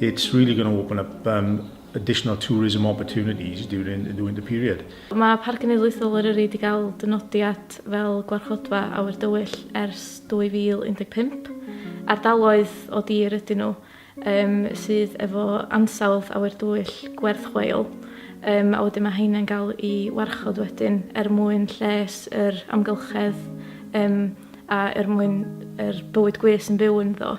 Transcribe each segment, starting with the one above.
It's really going to open up um, additional tourism opportunities during, during the period. Mae Parc Cenedlaethol Eryri wedi cael dynodiad fel gwarchodfa awyr dywyll ers 2015. Ardaloedd o dir ydyn nhw um, sydd efo ansawdd awyr dywyll gwerth chweil um, a wedyn mae heina'n cael i warchod wedyn er mwyn lles yr amgylchedd um, a er mwyn yr bywyd gwys yn byw ynddo.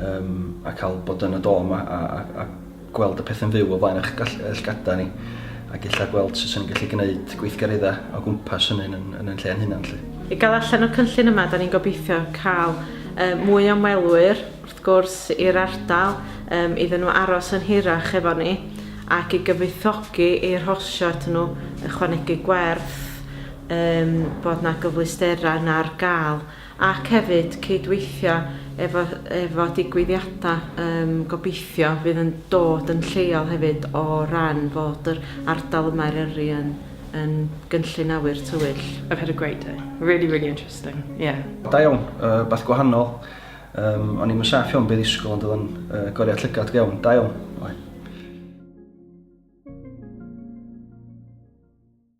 um, a cael bod yn y dom a, a, a gweld y pethau'n fyw o flaen eich llgada ni ac illa gweld sut sy'n gallu gwneud gweithgareddau o gwmpas hynny yn, yn, yn lle yn hynna'n lle. I gael allan o'r cynllun yma, da ni'n gobeithio cael um, mwy o ymwelwyr, wrth gwrs, i'r ardal, um, iddyn nhw aros yn hirach efo ni, ac i gyfoethogi i'r horsio at nhw ychwanegu gwerth um, bod na gyfleusterau na'r gael ac hefyd cydweithio efo efo digwyddiada yym gobeithio fydd yn dod yn lleol hefyd o ran fod yr ardal yma Eryri yn yn gynllun awyr tywyll. I've had a great day. Really really interesting. Yeah. Da iawn, yy beth gwahanol. Yym o'n i'm yn saff iawn be' ddisgwyl ond o'dd o'n yy goriad llygad go iawn. Da iawn. Oedd.